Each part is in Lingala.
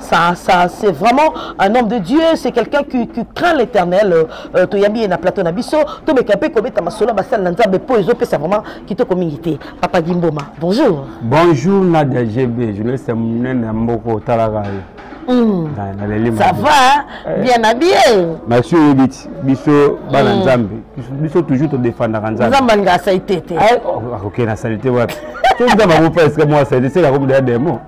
Ça, ça, c'est vraiment un homme de Dieu, c'est quelqu'un qui, qui craint l'éternel. Euh, euh to yambi na plateau na biso, to me kapé ko beta masolo ba sala nzambe po ezo pesa vraiment kitoko mingi te. Papa Gimboma, bonjour. Bonjour Nadia GB, je laisse mon na mboko talaka yo. Mm. ça va hein? eh. bien habillé merci oyebi ti biso bana mm. nzambe biso toujours todefandaka nzambe nzambe alinga asalite te akokende asalite wapi so nzambe akopa esika mwa asalite sekakomi deya demo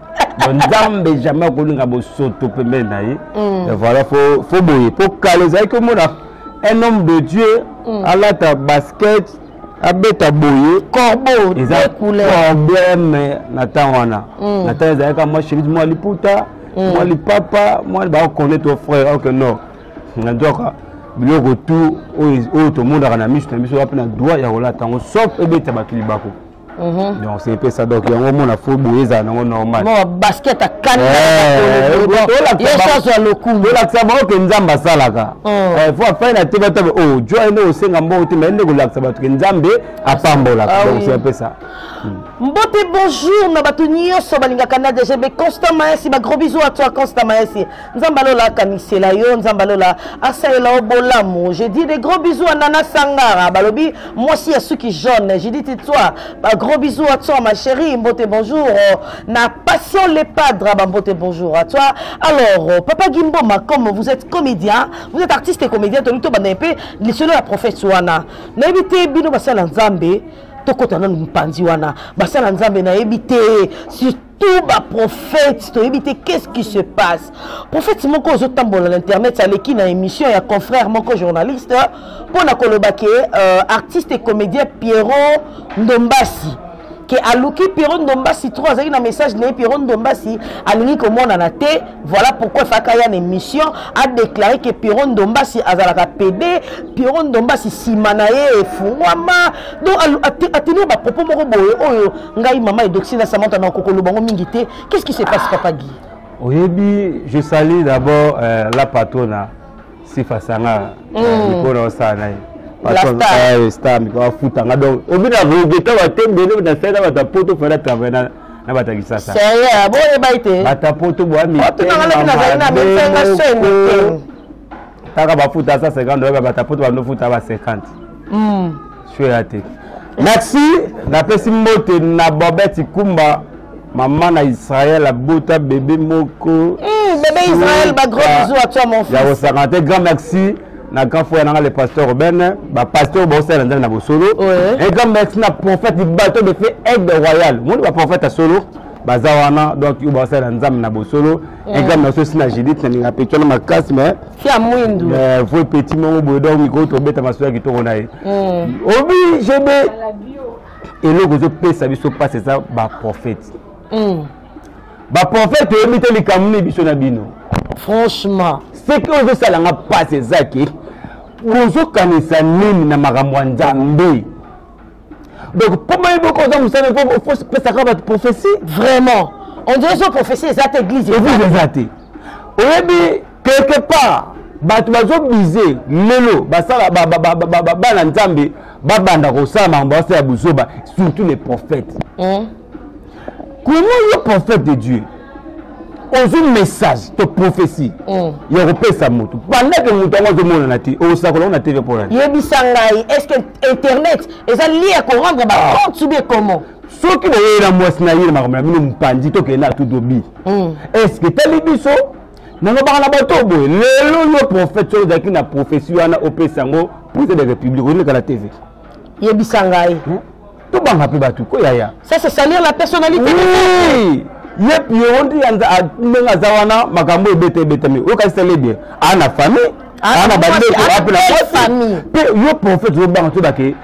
nzambe jamais akolinga bosoto pembeni na ye mm. voilà fo boye mpo kala ezalaki omona un homme de dieu mm. alata basket abeta boye corbeau eza problème na ntango wana mm. na ntango ezalaka mwa chemise mwa liputa mwa lipapa mwa bakone to frère ok non na nzoka biloko tu oyo tomonaka na miso na biso wapi na droit ya kolata yango sauf ebeta bato libako Mhm. donc c'est epesa donc yango omona fo boye ezala nango normal basket akanolakisa eh, bango ke nzambe asalaka oh. eh, fo afai na te batabe o oh, joi nde osenga mbongo te mai nde kolakisa bato ke nzambe apambolaka ah donc c'est epesa hmm. mbote bonjour na bato nyonso balingaka na dgb constant maesi bagros bisous à toi constant maesi nzambe alola akamisela yo nzambe alola asalela yo bolamu je dis des gros bisous à nana sangara balobi mwasi ya suki jaune je dis titoi ba gros bisous à toi ma chérie mbote bonjour na passion le padre ba mbote bonjour à toi alors papa gimboma comme vous êtes comédien vous êtes artiste et comédien toli tobanda mpe lisolo ya prophète wana nayebi te bino basala nzambe tokota nanu mpanzi wana basala nzambe nayebi te tout ba prophète toyebi te qu'est-ce qui se passe prophète moko ozotambola na internet aleki na émission ya confrère moko journaliste mpo na koloba ke euh, artiste et comédien pierrot ndombasi ke aluki pierrot ndombasi trop azalaki na message na ye pierrot ndombasi alingi komonana te voilà pourquoi efaka ya na émission adéclare ke pierrot ndombasi azalaka pede pierrot ndombasi nsima na ye efungwama donc atenir bapropos moko boye oyo ngai mama edoxi na samanta na kokoloba yango mingi te qu'est ce qui se passe papa gi oyebi je sali d'abord euh, la patrona sifa sangara mpo mm. na osala na ye eh, star mikolo afuta nga donc obi na regeta batembele na sala bato ya poto fana travaille na na bato ya kisasa boyeba ete bato ya poto boya mitenga taka bafuta sa 50 oyeba batapoto bandofuta ba 50 mm. sure ya te merci napesi mbote na bobet ikumba mama na israel abota bebe moko mm, bebe israel bagros bisou à toi mon fils ya kosanga te grand merci na grand frère nanga le pasteur Ruben ba pasteur ba osala nzambe na bosolo et grand merci na prophète du bateau de fait aide royal moni ba prophète ya solo baza wana donc yo ba osala nzambe na bosolo un grand merci aussi na Judith na ninga petit na makasi mais fia mwindu mais vrai petit mongo boye donc miko to beta masu ya kitoko na ye obi jebe eloko ezo pesa biso passe eza ba prophète hmm. ba prophète oyebi te likambo nini biso na bino franchement seke ozosala nga passe eza ke bozokanisa nini na makambo ya nzambe donc mpo bayebi oko oza mosala opesaka bato prophetie vraiment on dirait so prophetie eza te église église eza te oyebi quelque part bato bazobise lelo basala bana nzambe babanda kosala makambo basala ya buzoba surtout les prophètes hmm. comment yo prophète de dieu ozwi message to prophétie mm. ya kopesa motu bandaki motu yango azomonana te osakola ona tv mpo nani yebisa ngai est ce que internet eza lie ya korendre bacompte soubie comment soki boyei na mwasi na ye na makambo na bino mpanzi tokende na tudobi mm. est ce que etali biso nalobaka na bato boye lelo yo prophète soki ozalaki na prophétie wana opesa yango président de république oyeleka na tv yebisa ngai hmm? tobanga mpe bato ko yaya ça c'est salir la personnalité oui. ye pierro nde ndenge aza wana makambo ebeta ebetami okasitale bien aa na famille aa na bandeko ape na mwasi mpe yo prophète ozobanga todake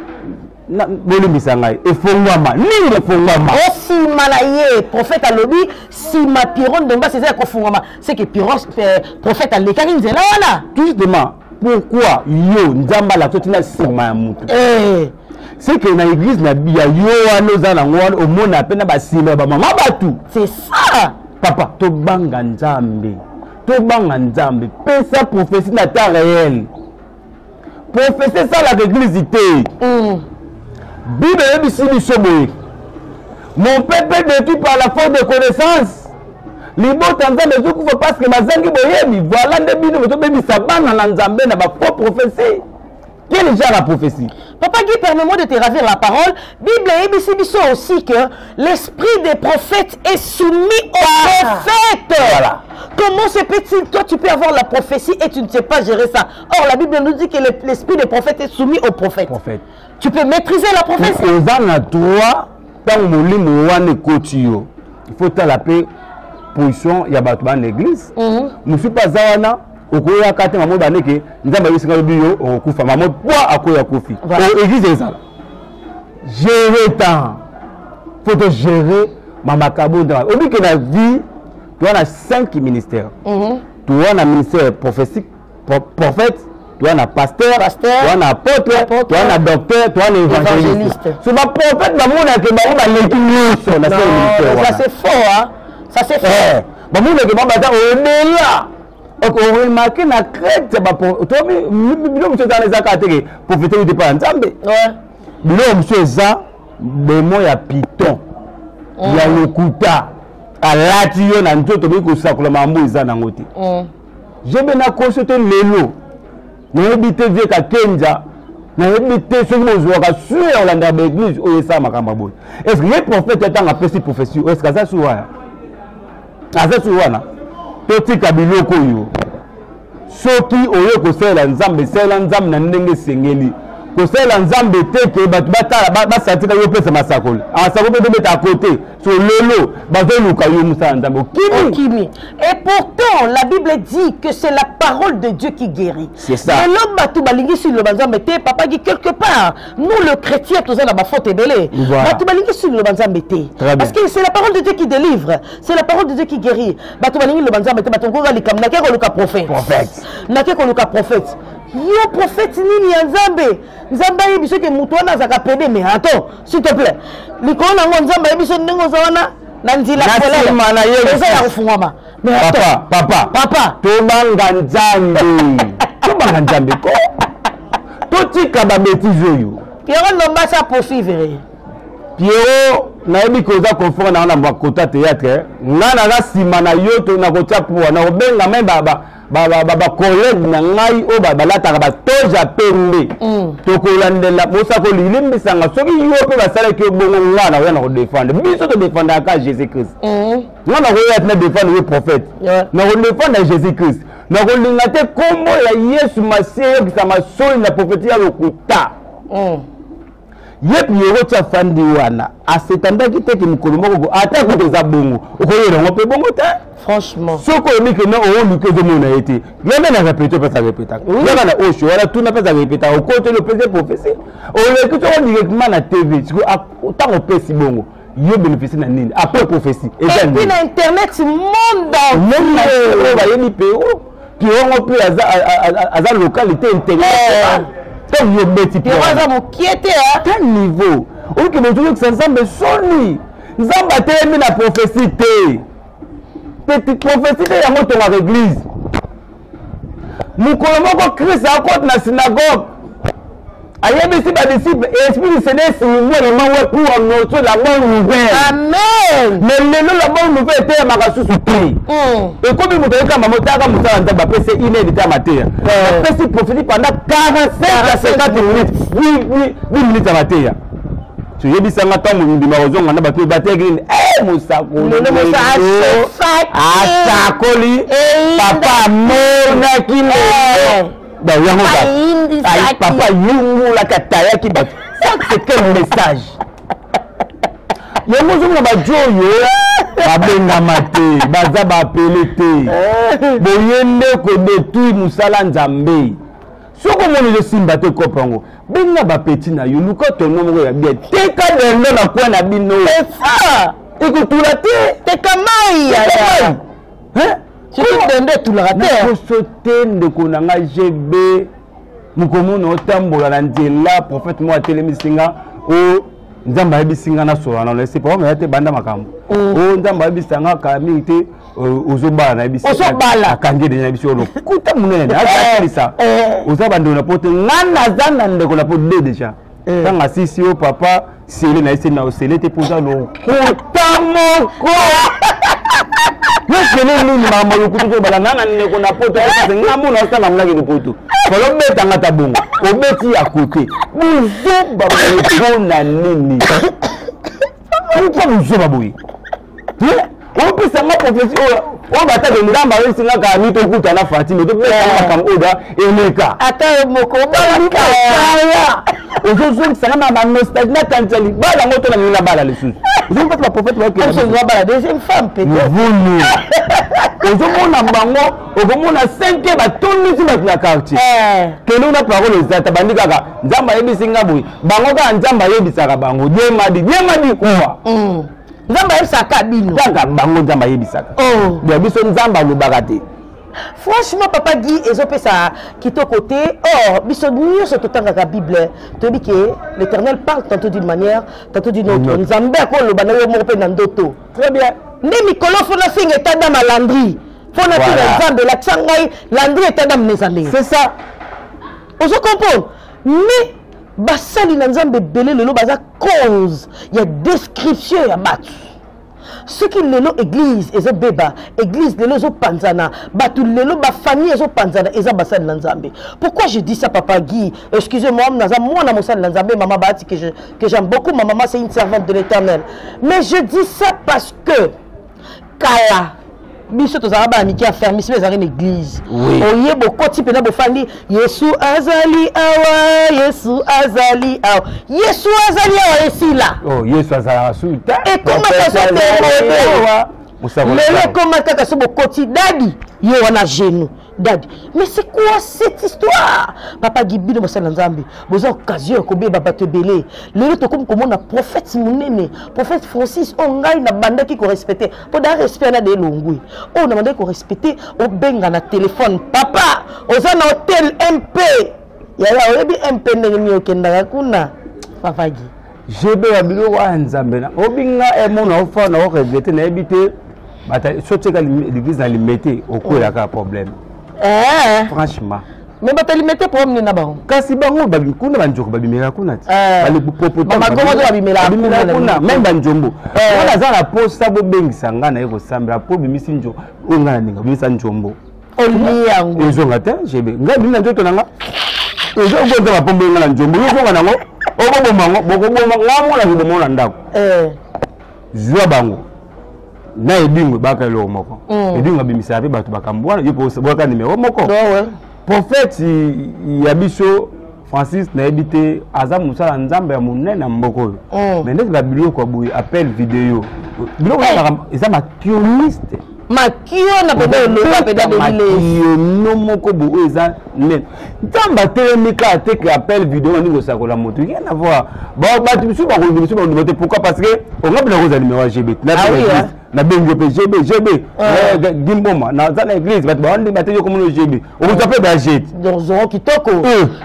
bolimbisa ngai efongwama nini efongwama osima na ye prophète alobi sima piron dombas eza ya kofungwama seke prophète alekaki nzela wana justement pourquoi yo nzambe alakisa oti na nsima ya motu eh. c'est que na église na ya yo wana oza nango wana omona mpe na basimba ya bamama bato c'est ça papa tobanga nzambe tobanga nzambe pesa prophétie na temps réel prophétie esalaka église te mm. bible eyebisi biso boye mon peuple détruit par la faute de connaissance libota nzambe ezokufa parceke bazangi boyebi voila nde bino bozobebisa bana na nzambe na bafaux prophetie quel genre ya prophetie papa guy permets-moi de te ravir la parole bible eyebisi biso aussi que l'esprit des prophètes est soumis au ah. prophète voilà. Comment se peut-il Toi, tu peux avoir la prophétie et tu ne sais pas gérer ça. Or, la Bible nous dit que l'esprit des prophètes est soumis au prophète. prophète. tu peux maîtriser la prophétie oza na droit ntango molimo wana ekoti yo il faut tala mpe position ya bato bana église mhm. mosusu mpe aza wana okoyaka te mamo bane ke nzambe ayebisaka lobi yo okokufa mamo po akoya kufi église ezala gérer temps faut to gérer mamakabo nzambe oyebi ke na vie toa na cinq ministère toa na ministère prophétique prophète toa na pasteur toa na apôtre toa na docteur toa na évangéliste so baprophète bamonake bango baleki nyonso na selimiteuanasefort bamonake bango baza odela oremake na crete bino mosusu ezala ezaka teke profete ute mpa ya nzambe bino mosusu eza demo ya piton ya mm. lokuta alati yo na nzoto boyi kosakola mambo eza nango te mm. jebe nakoso te lelo nayebi te vie kakenza nayebi te soki bozwaka sure ya kolandaka baeglise oyo esala makambo ya boye estce ye prophète ya ntango apesi prophesie oyo estce aza su wana aza su wana totika biloko oyo soki oye kosalela nzambe salela nzambe na ndenge esengeli kosalela nzambe te ke bato batala basatika yo opesa masakoli asakoli mpe tobeta kote Sololo, bazoluka yo musala nzambe okimi. Okimi. Et pourtant la Bible dit que c'est la parole de Dieu qui guérit. C'est ça. Mais l'homme batu balingisi loba nzambe te papa dit quelque part nous le chrétien toza na ba faute ebele. Voilà. Batu balingisi loba nzambe te. Parce que c'est la parole de Dieu qui délivre. C'est la parole de Dieu qui guérit. Batu balingi loba nzambe te batu ngoka likam na keko luka prophète. Prophète. Na keko luka prophète. Yo prophète nini ya nzambe? Nzambe ayebi soki moto wana azaka pede mais attends s'il te plaît likolo na yango nzambe ayebi biso ndenge oza wana na nzila nsima na ye eza ya kofungwama papa papa papa tobanga nzambe tobanga nzambe ko totika babetize oyo pierrot lombasi aposuivre ye pierrot nayebi ke oza confort na yango na bakota théâtre eh. nga naza nsima na yo to nakotia poa nakobenga me bacollègue na ngai oyo balataka batoge ya pembe mm. tokolandela mosako lilimbisanga soki yo mpe basalaki yo bongo ngai nakoya na kodefendre biso todefendaka kaka jésus christ mm. ngai nakoya ti na defendre yo prophète na kodefendre ya jésus christ nakolinga te nkombo ya yesu masiya eyokisama soli na profeti ya lokuta mm. ye pierrot ti afandi wana asetandaki te ke mokolo moko ata kuta eza bongo okoyela yango mpe bongo te franchement soki olobi ke na ooluki ozomona ye te yanga na repete mpe azarepetaka yanga na osho wana tuna mpe azarepetaka okoteli opesi profesi oleki soko directement na tv siko ntango opesi bongo yo bénéficie na nini après prophétie eza nini na internet monde entier oyo bayebi mpe Pirongo mpe aza localité intégrale. Tant yo beti Pirongo. Pirongo aza mokie te hein. Quel niveau? Oyo ke bozo yokisa Nzambe soni. Nzambe atelemi na prophétie te. Petit prophétie te yango tongaka église. Mokolo moko Christ akoti na synagogue. ayebisi badisiple esprit du seigneur silingwa na mango pour annoncer la bonne nouvelle amen mais lelo la bonne nouvelle eteyamaka susu te hmm. ekomi moto ayekamba motaka mosala nzambe apesi ine litama te apesi eh. profiti pendant 45 à 50 minutes 10 minutes ya mateya toyebisa nga ntango mobimba kozonga na bato bateki nini eh, mosakoli asakoli papa amonaki lelo eh. yango papa yungulaka atayaki bato c'est quel message yango ozomona bajo oyo babengama te baza baapele te eh. boye nde kodetruire mosala nzambe soki omoni ezosimba te kope yango benga bapeti na yo luka tono moko ya bien teka dendo na kwe na bino ekotula te teka mai yaya soki dendo etulaka te nakoso te ndeko na nga gb mokomona otambola na nzela prophète moko atelemisi nga o nzambe ayebisi nga nasola na lese papa meya te banda makambo o mm. oh, nzambe ayebisa nga kala mingi te euh, ozobala nayebisiakangi de nayebisi yo lokuta monene asalisa eh. oza bandeko na po te nga naza na ndeko na po de deja ntango eh. asisi yo papa sele na ye sele na yo sele te mpo oza lokuta moko yosele nini mama lokuta tobala nga na ndeko na poto ayekase nga mona osala mlaki lopoto kolobetanga ta bongo obeti ya kote buzoba mpo na nini mpo buzoba boye opesa nga profesi oyo oyo batake nzambe ayebisi nga kala mito okuta na fatime topesa eh. makambo oyo da eleka ata yo moko obalakaya ozozongisa nga na banostalgie nakanisa libala yango to nalingi nabala lisusu ozongi kati baprofete bakeabala deuxième femme petevulu ozomona bango okomona senke batondisi bato na quartier eh. kende una parole ezata bandi kaka nzambe ayebisi nga boye bango kaka nzambe ayebisaka bango diemadi diemadi kuwa mm. nzambe ayebisaka bino kaka bango nzambe ayebisaka oh. ya biso nzambe alobaka te franchement papa gi ezopesa kitoko te or biso nyonso totangaka bible toyebi ke l'éternel parle tantôt d'une manière tantôt d'une autre nzambe akoloba na yo moko mpe na ndoto très bien nde mikolo fo nafinga etanda malandri mpo nafinga nzambe elakisa ngai landri etanda mnezambe c'est ça ozo comprendre mais basali na nzambe ebele lelo baza cause ya description ya bato soki lelo église ezobeba église lelo ezopanzana bato lelo bafamille ezopanzana eza basali na nzambe pourquoi je dis ça papa guy excuse moi naza mwana mosali na nzambe mama baati que j'aime beaucoup ma mama c'est une servante de l'éternel mais je dis ça parce que kala biso tozalaka bana mike ya fermisme ezalaki na eglize oye bokoti mpena bofandi yesu azali awa yesu azali awa yesu azali awa esila oh, yesu azalaka su te ekomaka so temodewa lelo ekoma kaka so bokoti dadi ye wana genou dadi mais c'est quoi cette histoire papa gi bino basali na nzambe boza occasion ya kobeba bato ebele lelo tokomi komona prophète monene prophète francis oyo ngai nabandaki korespecte mpo da respect na de elongwi oyo nabandaki korespecte obenga na telefone papa oza na hotel mp yaya oyebi mp ndenge nini okendaka kuna papa gi jebe ya biloko wana nzambe na obi nga emona ofa na oregrete nayebi te sotika l'église na limete okwelaka mm. problème eh. franchement me batalimete problème nini na bango kasi bango kuna banjoko babimela kuna ti kuna meme banjombo eh. wana aza na posa bobengisa ngai na ye kosambela mpo obimisi njo oyo ngai na ndenge obimisa njombo olie yango ezonga te jebe ngai bimi na nzoto na nga ezokonza bapombo enga na nzombo yozonga nango okoboma yango bokoboma ngai mona koboma na ndako eh. zwa bango na edingo ebaka eloko moko mm. edingo abimisaka mpe bato bakambo wana yo mpe obwaka nimero moko prophète ya biso francis nayebi te aza mosala nzambe ya monene na mboka oyo mm. mais ndeti babiloko ya boye appel video biloko eh. eza makioniste makio na pede oloba pede abelileyono moko bo oyo eza nene ntango batelemi kaka te ke appel video baningi kosakola moto rien avoir bato misusu bakonzi misusu bandima te pourquoi parce que ongabi nako ozali mewa gbet nabengi yo mpe gb gb gimboma naza na église bato bawandi bateki okomona gb okozwa mpe bajete zoro kitoko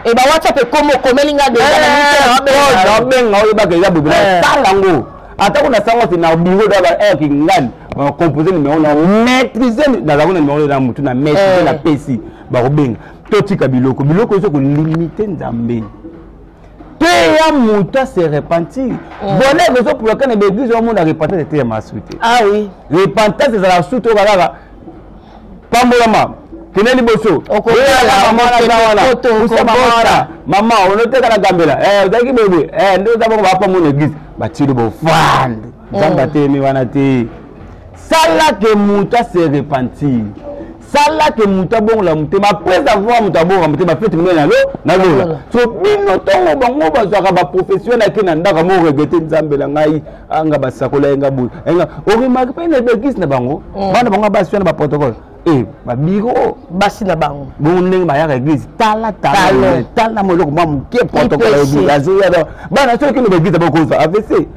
e ba whatsapp ekomi okomeli nga deabenga oyebaka eza bobe natala yango atako na sango te na bingo daba kingani bakompose numero na maîtrise nazalaki na numero na motu na maîtrise napesi bakobenga totika biloko biloko ezo kolimite nzambe teya moto ase repentir oh. bona ezo poloka na baeglise omona repentance eteya masui te ah repentance ezalaka su toyoka kaka pambolama kende liboso wana mama onoteka na gambela eh, ozalaki boyeboye eh, nde oza bongo bapambo na eglise batili bofandi nzambe oh. atelemi wana te salake moto ase repentir sala ke moto abongola motema après avoir moto abongola motema fete monene na lo na lola so bino ntongo bango bazwaka baprofession nake na ndako yango oregrete nzambe na ngai anga basakola yenga boye enga oremarke mpe na beglise na bango mm. bana bango basi wana baprotocole e babiro basi na bango bongo ndenge bayaka eglise tala tala tala mwa eloko mwa moke protocole ya eglise azoya bana soki kende baeglise bakozwa avc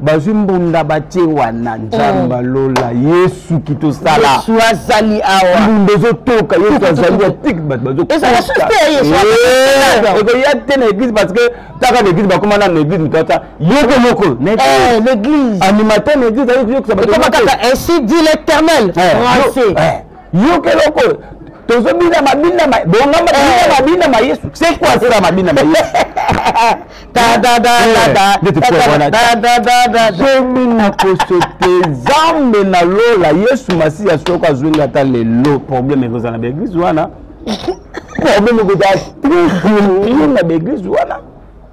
bazwi mbunda batie wana nzambe oh. lola yesu kitosalaasu azali awa mbunda ezotoka yesu azali atiki bato bazoekoya te na eglise parce que taka na eglise bakoma nano na eglise mitata yoko moko animateur na eglise ayokisa bato yoka eloko oyo tozobina mabina bongamba tobina eh. mabina ma yesu c'est quoi cela mabina ma yesu zomi na kosote zambe na lola yesu masiya soko azwi nga ata lelo problème ekozala na baeglise wana problème ekozala toujours na baeglise wana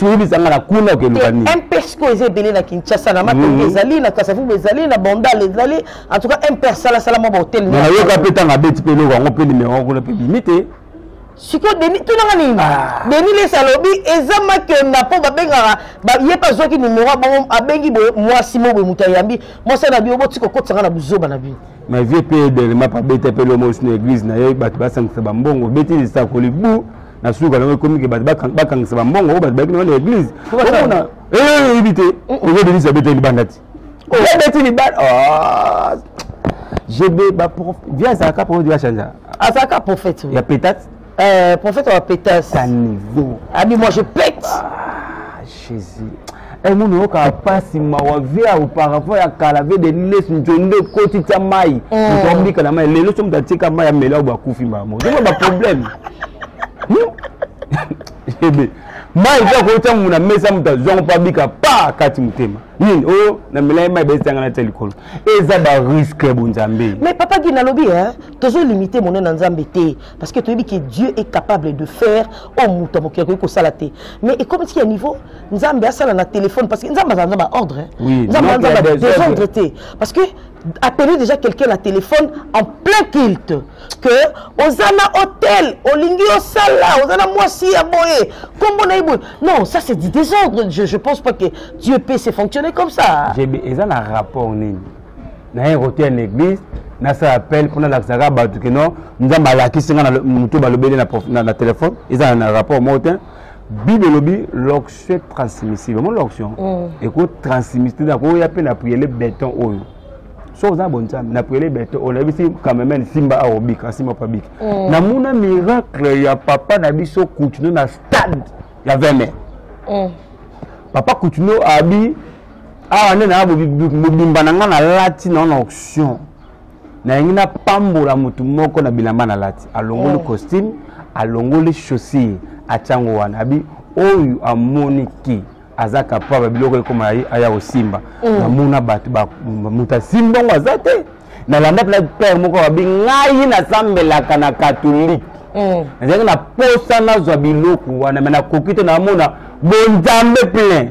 soyebisa nga na kuna okeluka nini mpsco eza ebele na kinshasa na matongo mhm. ezali na kasavubu ezali na bandal ezali en tout cas mpr salasala mwa bahotel nayoka mpe ntango abeti mpe eloko yango mpe nimero yango kuna mpe bimi te sikoyo deni tunanga nini ah. deni lesi alobi eza makenda mpo babengaka ye mpe azwaki nimero abongo abengi boye mwasi mo boye moto ayambi mwasi na bino boti kokotisanga na buzoba na bino ma vie mpe edelema mpe abeta mpe lomosi na eglize na ye bato basangisa bambongo obeti lisakoli bu na suka nango ekomi ke bato bakangisa bambongo oyo bato bayaki nango na eglise omona eyebi te oyo denise abeteli libanda ti abeti libanda gb via azalaka prophète ya changea azalaka prophète ya petate prophète ya petate abi moi je pète jesus e munu oyokaka mpasi mawa vie ya auparavant ya kala vie de liles nzondo ekoti tya mai moto mm. abika na mai lelo so moto atika mai amela oyo bakufi mama ozoma baproblème hmm? ebe mai mpe akoki tya muna mesa moto azwango mpo abika pa kati motema nini oyo oh, na milai mai baesanga na tya likolo eza bariske ya bonzambe mais papa gi nalobi tozolimite monene na nzambe te parce que toyebi que dieu est capable de faire oyo oh, moto ya mokili akoki kosala te mais ekomisi ya niveau nzambe asala na téléphone parce que nzambe azala nza baordre nzambe aza nza badésordre te parce que appeler déjà quelqu'un na téléphone en plein culte que oza na hôtel olingi osala oza na mwasi ya boye nkombo na ye boye non ça c'est du désordre je, je pense pas que dieu peut se fonctionner comme ça eza na rapport nini naye koteya na église nasala appel mpo nalakisaka bato kino nzambe alakisi nga na moto balobeli na telefone eza na rapport moko te bible elobi loction est transmissible mo loction mm. eko transmissible akoya mpe na priele beton oyo soki oza na bonzambe na priele beton oyo nayebisi cameraman simba aobika asimba mpo abiki mm. namona miracle ya papa na biso kutino na stade ya veme mm. papa kutino abi awa nde naya mobimba na ngai nalati nao na auction nayangi napambola motu moko na bilamba nalati alongoli oh. costume alongoli chaussure atyango wana abi oyo amoni ki aza kapaba biloko ekoma aya kosimba mm. namona bato moto asimbi yango aza te nalanda mpena pere moko babi ngai nasambelaka na katolike mm. nazalaki na posa nazwa biloko wana me nakoki te namona bonzambe plein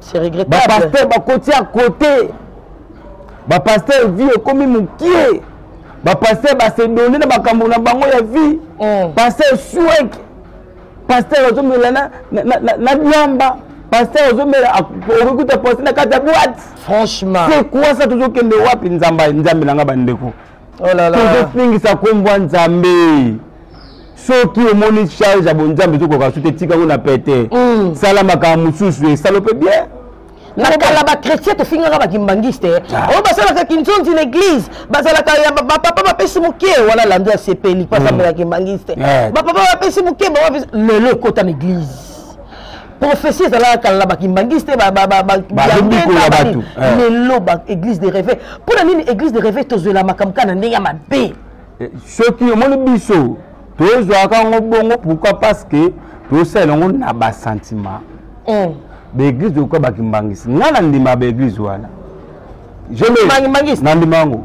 c'est regrettable ba pasteur ba koti à côté ba pasteur vie ekomi mukie ba pasteur ba se donner na makambo na bango ya vie mm. pasteur swek pasteur azomela na na na, na diamba pasteur ozomela okokuta poste na kati ya boite franchement c'est quoi ça tozokende wapi nzambe nzambe na nga bandeko oh tozofingisa nkombo ya nzambe soki omoni charge ya bonzambe ezokoka so te tika yango na pete mm. sala makambo mosusu esalo mpe bien na kala bachrétien tofingaka bakimbangiste ah. oyo basalaka kinzonzi na église bazalaka ya bapapa bapesi moke wana lando ya sepeli mpo asambela kimbangiste bapapa bapesi moke lelo ekota na église prophetie ezalaka kala na bakimbangiste bazombikola bato eh. lelo ba église de réveil mpo na nini église de réveil tozwela makambo kaka na ndenge ya mabe eh, soki omoni biso tozwaka yango bongo pourquoi parce que tosalela yango na basentiment hmm. baeglise okoka bakimbangisi ngai nandima baeglise wana nandima yango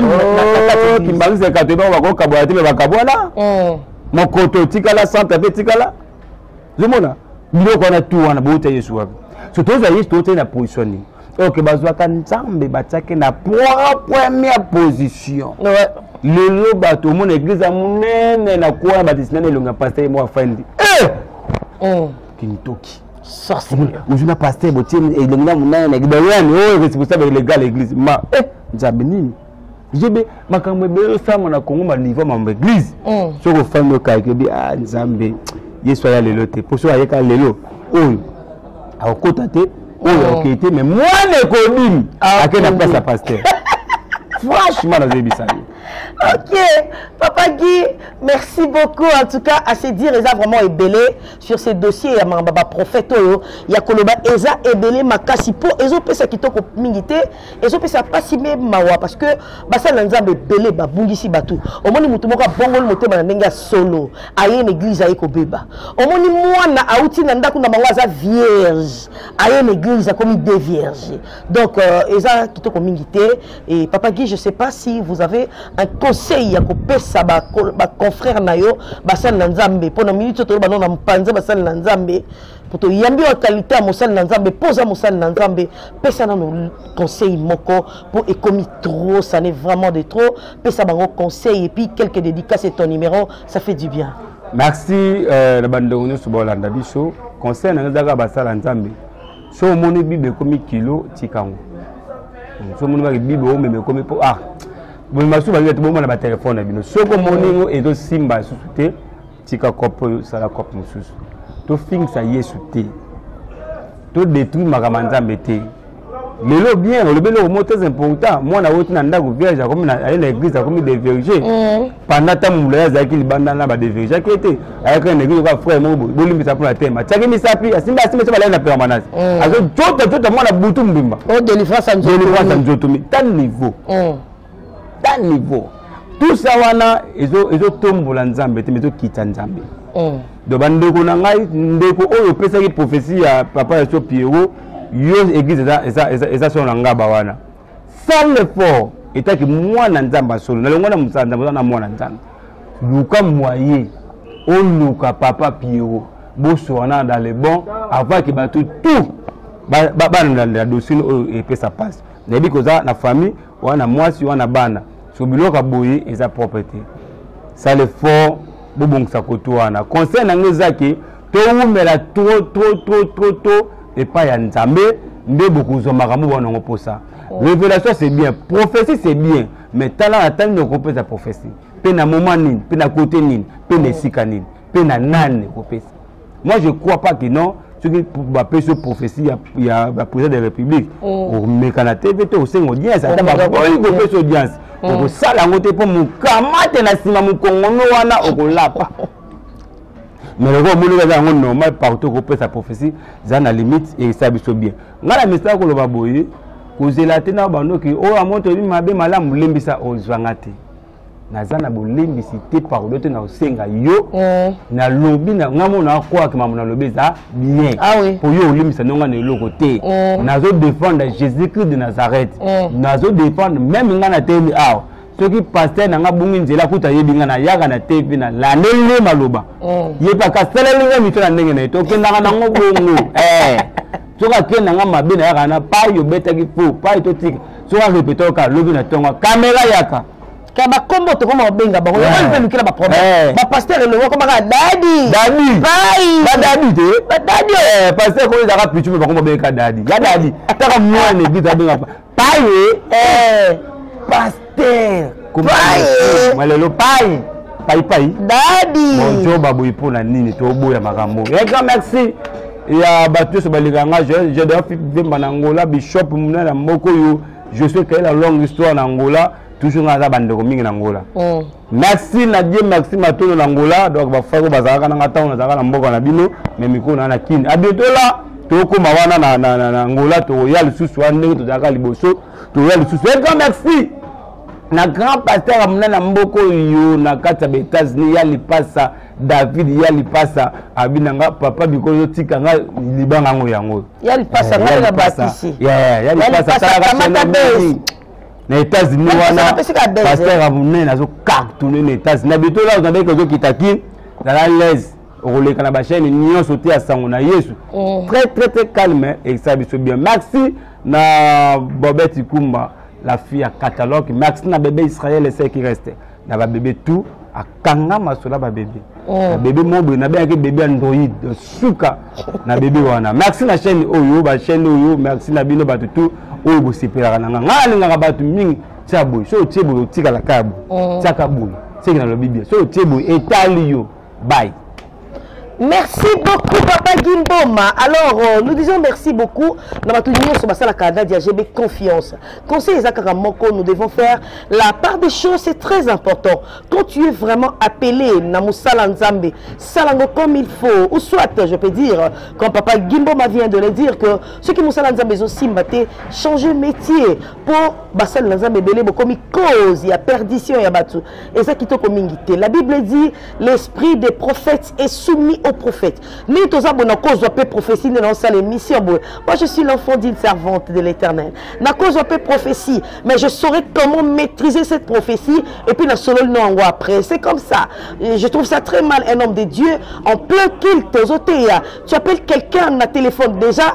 oh, kimbanguiste kato ebako bakokabwana te me bakabwana mm. mokoto etikala centre mpe etikala zomona biloko wana tu wana bouta yesu wapi so tozwa yesu tootei na position nini ok bazwaka nzambe batiaki na première position ouais. lelo bato omona eglize ya monene na kuana badesinana elongi ya paster ye moko afandi eh! mm. kintoki ozwi na paster botie elongi na monana na kibayani oyo responsable legal église ma eh, nzambe nini jebe makambo ebele osalama na congo manivo ya mambo église mm. soki ofandi okaki obi a ah, nzambe yesu aya lelo te mpo soki ayeka lelo oyo akokota te oyo mm. akokei te mais mwana ekobimi ah, ake na place ya paster franchement nazoyebisa yo ok papa guy merci beaucoup en tout cas à se dire eza vraiment ebele sur ce dossier ya mamba ba prophète oyo ya koloba eza ebele makasi po ezo pesa kitoko mingi te ezo pesa pasi me mawa parce que basali na nzambe ebele babungisi bato omoni moto moko abongoli motema na ndenge ya solo aye na église aye kobeba omoni mwana auti na ndako na bango aza vierge aye na église akomi de vierge donc euh, eza kitoko mingi te Et Papa Guy, je ne sais pas si vous avez un conseil à kopesa ba ba confrère na yo basal na Nzambe pona minute to ba na mpanza basal na Nzambe poto yambi wa qualité ya mosali na Nzambe poza mosali na Nzambe pesa na no conseil moko pour ekomi trop ça n'est vraiment de trop pesa bango conseil et puis quelques dédicaces et ton numéro ça fait du bien. Merci euh, na bandongo nyoso bolanda biso conseil na ngazaka basala Nzambe so omoni bible ekomi kilo tikango hmm, so omoni baki bible omema ekomi mpo ah bomema lisusu balinga te bomona batelefone na bino soki omoni yango ezosimba lisusu te tika cope oyo sala cope mosusu tofingisa yesu te todetruire makambo ya nzambe te lelo bien olobeli okomo très important mwana awoti na ndako vierge akomi aye na église akomi de vierge mm. panda ntango molai azalaki libanda na badevirgeaki ete ayaki na ndenge yoka frère moko bolimbisa mpo na tema atiaki misapi asimba asimba so balai na permanence mm. azojota jota mwana butu mbimba oh, delivrance ya nzoto mi ta niveau mm. ta niveau tusa wana ezotombola nzambe te ma ezokita nzambe mm. do bandeko na ngai ndeko oyo opesaki prophesie ya papa ya so pierrot yo église eza solo na ngaba wana sale effort etaki mwana nzambe asolo nalongwa na mosala nzambe oza na mwana nzambe luka moye oluka papa piero bosoana dans le bon avant ke bato tout balandela dossier oyo epesa mpasi nayebi koza na famille wana mwasi wana bana so biloko ya boye eza propre te sale fort bobongisa koto wana conseil na ngai eza ke towumela tro tro tro tro tro epai ya nzambe nde bokozwa makambo bana yango mposa oh. révélation c'est bien prophétie c'est bien mais tala na tani okopesa prophétie mpe na moment nini mpe na kote nini mpe na oh. esika nini mpe na nani okopesa moi je crois pas que non soki bapesi yo prophétie ya président de la république oh. omeka na tv te osenga audience ata bakoyi kopesa audience okosala yango te mpo mokamate na nsima mokongono wana okolapa mais lokola omoni eza yango normal partout kopesa prophétie eza na limite eyesa biso bien ngai na mesala koloba boye kozela te na bandoki oyo amoni toyebi mabe malamu lembisa ozwanga te naza na bolembisi te parole te nakosenga yo mm. nalobi ngai mona akwaki mambo nalobi eza bien ah po yo olembisa ndonga na eloko te mm. nazo défendre jésus christ de nazareth mm. nazo défendre meme ngai na temi awa soki paster na nga bongi nzela kuta ayebi nga nayaka na te mpe nalandeli nde maloba mm. ye mpe akasaleli nga mito na ndenge na ye te okendaka nango bongo eh. soki akenda nga mabe nayaka na pai obetaki po pai totika soki arepeta oka lobi na ntongo kamera yaka ka bakombo tokoma kobenga bango yango mpe lukela baproblème bapasteur elongo komaka dadi dadi pai badadi te badadi paster koyezaka pichu mpe bakoma bengeka dadi ya dadi taka mwana eglise abenga paye eh pasteur paye malelo paye paye paye dadi bonjour baboyi mpo na nini toboya makambo ya grand merci ya bato nyonso baleka nga jadea vemba na angola bishop muna na moko oyo josue kaela longue histoire na angola toujours nga aza bandeko mingi na angola mm. merci na die maxi matondo na ngola donc bafako bazalaka nanga ntango nazalaka na mboka na bino me mikolo na na kini abietola tokoma wana na, na, na, na ngola tokoya lisusu wana ndenge tozalaka liboso tokoya lisusu e grand merci na grand pasteur ya monene ya mboka oyo na kati ya baetats-unis ya lipasa david ya lipasa abi na nga papa bikolo yotika nga libanga yango yango ya lipasa eh, nga na batisi ya lipasa salaka na états-unis wana pasteur ya monene azocartone na états-unis na bito lazo nabeki ozokita kin zala laise okoleka na bachaine nyonso te ya sango na yesu mm. très très très calme ekisa biso bien maxi na bobet ikumba la fille ya catalogue maxi na bebe israel eseki reste na babebe tout akanga masola babebe oh. na bebe moko boye nabengaki bebe android suka na bebe wana merci na chaîne oyo bachaîne oyo merci na bino bato tout oyo bosepelaka na nga ngai alingaka bato mingi tia boye soki otie boye otikala kaka boye oh. tiaka boye seke nalobi bien soki otie boye etali yo bye merci beaucoup papa gimboma alors euh, nous disons merci beaucoup na bato nyonso basalaka nadia gb confiance conseil eza kaka moko nous devons faire la part des choses c'est très important quand tu es vraiment appelé na mosala nzambe salango comme il faut ou soit je peux dire comme papa gimboma vient de le dire que soki mosala nzambe ezosimba te changer métier mpo basali na nzambe ebele bokomi cause ya perdition ya bato eza kitoko mingi te la bible dit l'esprit des prophètes est soumis aux prophètes ndenge toza bona kozwa mpe prophétie nde naosala émission boye moi je suis l'enfant d'une servante de l'éternel nakozwa mpe prophétie mais je saurais comment maîtriser cette prophétie et puis nasololi na yango après c'est comme ça Et je trouve ça très mal un homme de dieu en plein culte ozoteya tu appelles quelqu'un na téléphone déjà